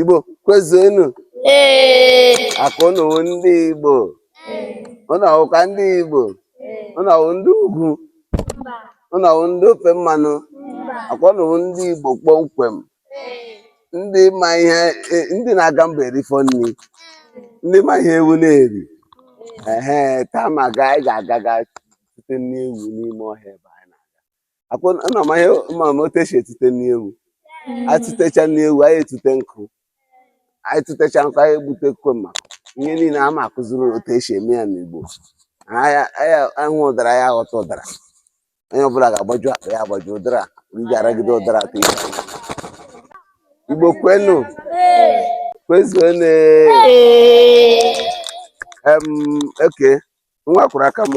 Igbo kwezuenu akwa ụnụ ndị Igbo ụnụ ọwụkwa ndị Igbo ụnụ ọwụ ndị ugwu ụnụ ọwụ ndị ofe mmanụ akwa ụnụ ndị Igbo kpọmkwem ndị ma ihe e, ndị na-aga mba erifọ nri ndị ma ihe ewu na-eri ehe taa ma ga anyị ga-aga ga tute nri ewu n'ime ọhịa ebe anyị na-aga akwa ụnụ ma ihe ma otu esi etute nri ewu anyị tụtecha nri ewu anyị etute nkụ anyị tụtecha nkụ anyị egbutekwe ma ihe niile a ma akụziri otu esi eme ya n'igbo anyị anyị- anyị hụ ụdara ya aghọta ụdara onye ọbụla ga-agbaju akpa ya agbaju ụdara ị ga-aragide ụdara ka ị igbo kwenu kwezuenu em oke nwa kwụrụ aka m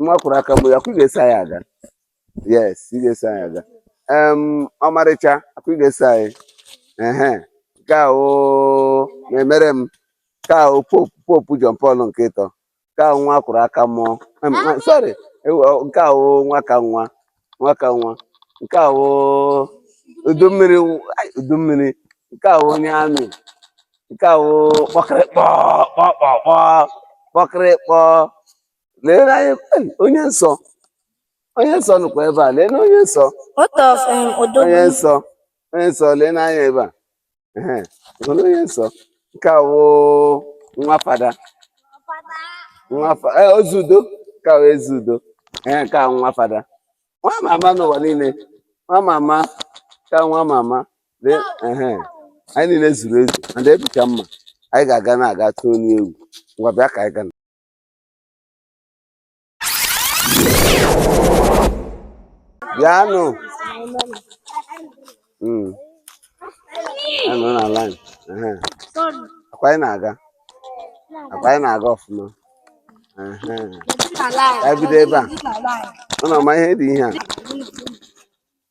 nwa kwụrụ aka m akwa ị ga-eso anyị aga yes ị ga-eso anyị aga em ọmarịcha akwa ị ga-eso anyị ehe nke a wụ na-emere m nke a wụ popu popu John Paul nke ịtọ nke a wụ nwa kwụrụ aka m em, ah, sorry ewu, ọ, nke a wụ nwa ka nwa nwa ka nwa nke a wụ udu mmiri wụ- ai, udu mmiri nke a wụ onye amị nke a wụ kpọkịrịkpọ kpọkpọkpọ kpọkịrịkpọ lee na anyị ai, onye nsọ onye nsọ nọkwa ebe a lee na onye nsọ What of um, Odogwu? onye nsọ onye nsọ lee n'anya ebe a ehe hụrụ onye nsọ nke a wụ nwa fada nwa fa ee ezi udo nke a wụ ezi udo ee nke a wụ nwa fada nwa mama n'ụwa niile nwa mama ka nwa mama lee ehe anyị niile zuru ezu and ebucha mma anyị ga-aga na-aga tụọ nri ewu ngwa bịa ka anyị gana bịanụ hmm. anọ na line akwa anyị na-aga akwa anyị na-aga ọfụma ka anyị bido ebe a ụnụ ama ihe dị ihe a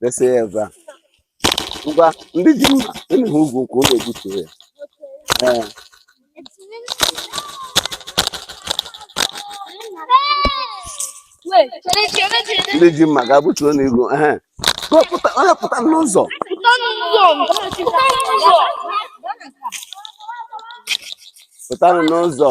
dese ya ebe a ngwa ndị ji mma unu hụ igu nkwụ unu egbutuo ya ee ndị ji mma ga gbutuonụ igu ehe pụta onye pụta n'ụzọ pụtanụ n'ụzọ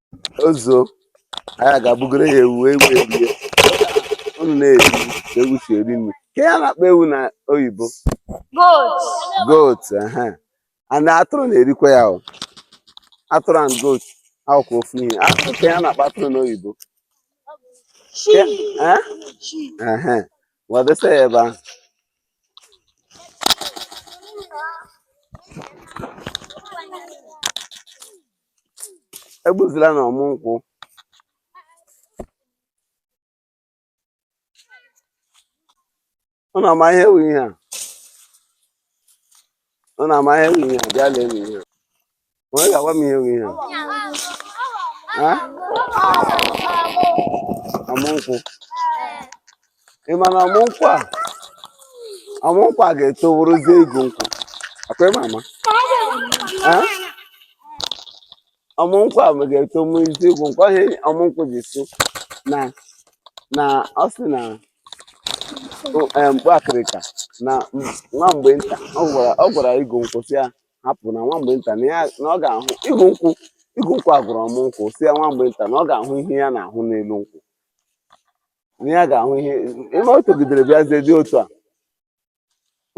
ọzọ anyị ga-egbugoro ya ewu ewu erie unu na-eri ka ewu si eri nri kee ihe a na-akpọ ewu na oyibo goat goat ehe and atụrụ na-erikwa ya o atụrụ and goat wụkwa ofu ihe atụrụ kee ihe a na-akpọ atụrụ n'oyibo sheep Eh? sheep ehe ngwa desa ya ebe ahụ egbuzila na ọmụ nkwụ unu ama ihe wụ ihe a unu ama ihe wụ ihe a bịa lee m ihe a onye ga-agwa m ihe wụ ihe a Ha? ọmụ nkwụ ị ma na ọmụ nkwụ a ọmụ nkwụ a ga-eto wụrụzie igu nkwụ ọkwa ị ma ama Eh? ọmụ nkwụ a ga-eto wụrụzie igu nkwụ ọ ihe ọmụ nkwụ ji sị na na ọ sị na o- eh, mkpu akịrịka na m- nwa mgbe nta ọ gwara ọ gwara igu nkwụ sị ya hapụ na nwa mgbe nta na ya na ọ ga-ahụ igu nkwụ igu nkwụ a gwara ọmụ nkwụ sị ya nwa mgbe nta na ọ ga-ahụ ihe ya na-ahụ n'elu nkwụ na ya ga-ahụ ihe ebe o togidere bịazie dị otu a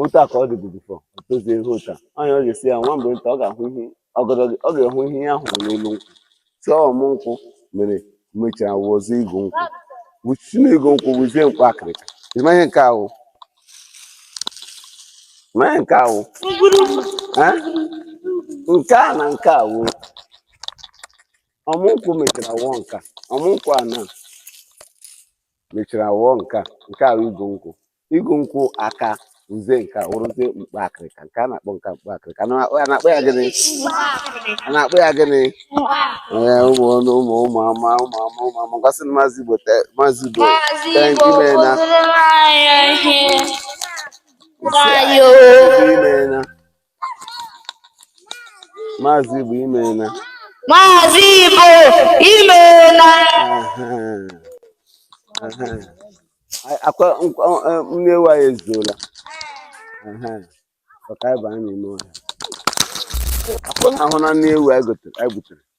otu a ka ọ dịbu before o tozie ihe otu a onye ọ ga-asị ya nwa mgbe nta ọ ga-ahụ ihe ọgọdọ gị ọ ga-ahụ ihe ya hụrụ n'elu nkwụ si ọmụ nkwụ mere mechara wụọzi igu nkwụ wuchi na igu nkwụ wụzie mkpa akịrịka ị ma ihe nke a wụ ma ihe nke a wụ nke a na nke a wụ ọmụnkwụ mechara wụọ nke a ọmụnkwụ a na mechara wụọ nke a nke a wụ igu nkwụ igu nkwụ akazie nka wụrụzie mkpa akịrịka nke a na-akpọ nka mkpa akịrịka a na- a na-akpọ ya gịnị a na-akpọ ya gịnị ee ụmụ ọnụ ụmụ ụmụ ama ụmụ ama ụmụ ama ga-asị na maazị igbo te- maazị igbo Maazị thank Igbo you imeena kụziri anyị ihe. Nsị Dayo. ebe i meena Maazị Igbo imeena. Maazị Igbo imeena. Ọkwa nri ewu anyị ezuola. Ọka ịba anyị n'ime ọhịa. Ọkwa ị hụna nri ewu anyị butere.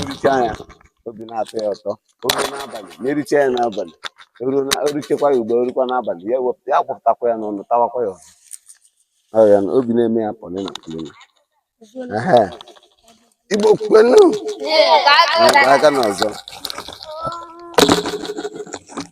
ericha ya obi na-atọ ya ụtọ oge n'abalị na-ericha ya n'abalị o richekwa ya ugbu a o rukwa n'abalị ya wepụta ya wụpụtakwa ya n'ọnụ tawakwa ya ọ ya na obi na-eme ya pọlịna pọlịna igbo kwenu aka na ọzọ